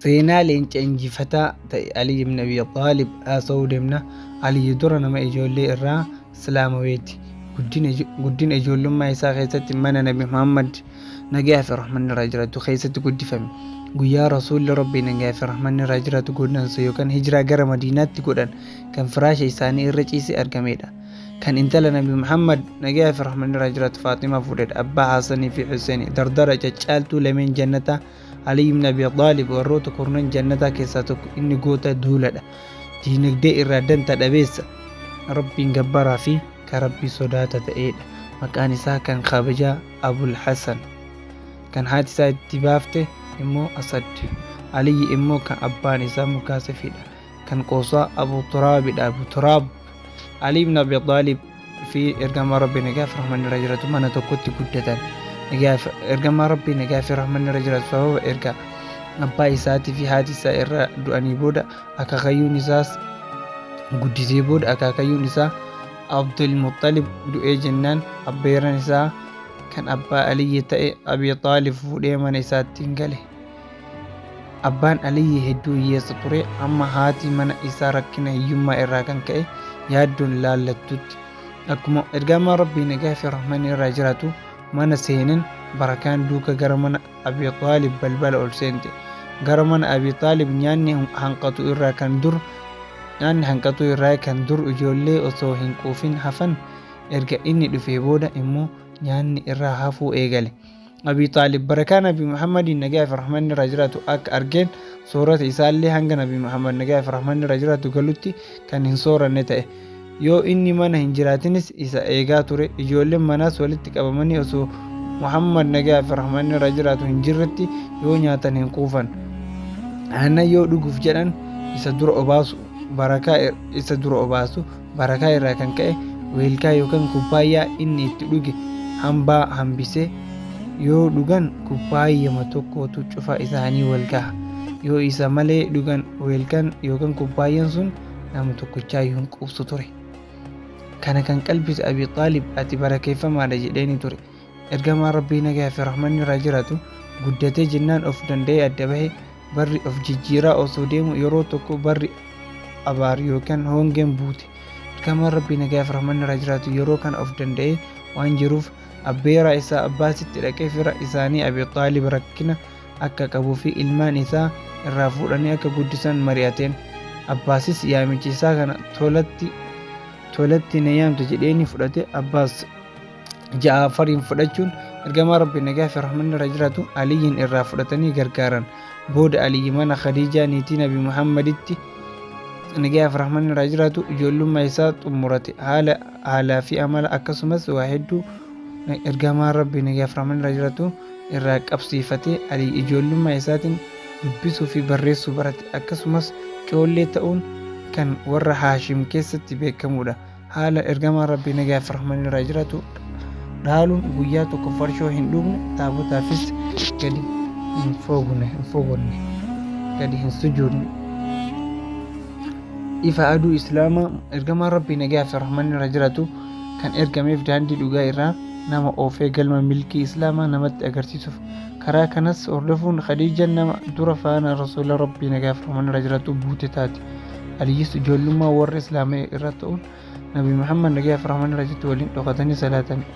seenaa leenca injifataa ta'e Ali ibn Abi Xaalib haasa'uu deemna. Ali dura nama ijoollee irraa Islaamaweeti. Guddina ijoollummaa isaa keessatti mana Nabi Muhammad nagaa fi rahmanni irraa jiraatu keessatti guddifame guyyaa rasuulli rabbii nagaa fi rahmanni irraa jiraatu godaansa yookaan hijiraa gara madiinaatti godhan kan firaasha isaanii irra ciise argamedha kan intala nabi muhammad nagaa fi rahmanni irraa jiraatu faaximaa fuudhedha abbaa haasanii fi huseeni dardara caccaaltuu lameen jannataa alii ibn abi xaalib warroota kurnan jannataa keessaa tokko inni goota duuladha diinagdee irraa danta dhabeessa rabbiin gabbaraa fi kan rabbii sodaata ta'eedha maqaan isaa kan kabajaa Abul Hasan, kan haati isaa itti baafte immoo Asad, Aliyyi immoo kan abbaan isaa Mukaasifidha, kan qoosaa Abu Turaabidha, Abu Turaab, Ali ibn Abi Xaalib fi ergamaa Rabbi nagaa fi rahmanni irra jiratu mana tokkotti guddatan. Ergamaa Rabbi nagaa fi rahmanni irra jiratu sababa erga abbaa isaatii fi haati isaa irra du'anii booda akaakayyuun isaas guddisee booda akaakayyuun isaa Abdul Muxxalib du'ee jennaan abbeeran isaa kan abbaa Aliyyi ta'e Abi Xaalib fuudhee mana isaatti gale. Abbaan Aliyyi hedduu hiyyeessa ture amma haati mana isaa rakkina hiyyummaa irraa kan ka'e yaaddoon laallattutti. Akkuma ergamaan Rabbii nagaa fi rahmanni irraa jiraatu mana seenan barakaan duuka gara mana Abi Xaalib balbala ol seente. Gara mana Abi Xaalib nyaanni hanqatu irraa kan dur nyaanni hanqatuu irraa kan dur ijoollee osoo hin quufin hafan erga inni dhufee booda immoo nyaanni irraa hafuu eegale. Abi Xaalib barakaa Nabi Muhammadiin nagaa fi rahmanni irraa jiraatu akka argeen soorata isaallee hanga Nabi Muhammad nagaa fi rahmanni irraa jiraatu galutti kan hin sooranne ta'e. Yoo inni mana hin jiraatinis isa eegaa ture. Ijoolleen manaas walitti qabamanii osoo Muhammad nagaa fi rahmanni irra jiraatu hin jirretti yoo nyaatan hin quufan. Aannan yoo dhuguuf jedhan isa dura obaasu barakaa isa dura obaasu barakaa irraa kan ka'e weelkaa yookaan kubbaayyaa inni itti dhuge hambaa hambisee yoo dhugan kubbaayyama tokkootu cufa isaanii wal gaha. Yoo isa malee dhugan weelkaan yookaan kubbaayyan sun nama tokkichaa iyyuu hin quubsu ture. Kana kan qalbise Abi Xaalib ati barakeeffamaadha jedheeni ture. Ergamaan Rabbii nagaa fi rahmanni irraa jiraatu guddatee jennaan of danda'ee adda bahe barri of jijjiiraa osoo deemu yeroo tokko barri abaar yookaan hongeen buute. Ergamaan Rabbii nagaa fi rahmanni irraa jiraatu yeroo kana of danda'ee waan jiruuf abbeeraa isaa abbaasitti dhaqee fira isaanii Abi Xaalib rakkina akka qabuu fi ilmaan isaa irraa fuudhanii akka guddisan mari'ateen. Abbaasis yaamicha isaa kana tolatti tolatti na yaamte jedheenii fudhate Abbaas Ja'afariin fudhachuun ergamaa Rabbi nagaa fi rahmanni irra jiraatu Aliyyiin irraa fudhatanii gargaaran. Booda Aliyyi mana Khadiijaa niitii Nabi Muhammaditti nagaa fi rahmanni irraa jiraatu ijoollummaa isaa xumurate. Haala haalaa fi amala akkasumas waa hedduu ergamaa Rabbi nagaa fi rahmanni irraa jiraatu irraa qabsiifatee ali ijoollummaa isaatiin dubbisuu fi barreessuu barate. Akkasumas coollee ta'uun kan warra Haashim keessatti beekamuudha. Haala ergamaan Rabbii nagaa fi rahmanni irraa jiraatu dhaaluun guyyaa tokko farshoo hin dhugne, taabotaafis gadi hin foogne, hin fogonne, gadi hin sujuudne. Ifa aduu Islaamaa ergamaan Rabbii nagaa fi rahmanni irraa jiraatu kan ergameef daandii dhugaa irraa nama oofee galma milkii Islaamaa namatti agarsiisuuf. Karaa kanas hordofuun Khadiijan nama dura faana Rasuula Rabbii nagaaf rahman irra jiraatu buute taate. Aliyyis ijoollummaa warra Islaama'ee irra ta'uun Nabi Muhammad nagaaf rahman irra jiraatu waliin dhokatanii salaatan.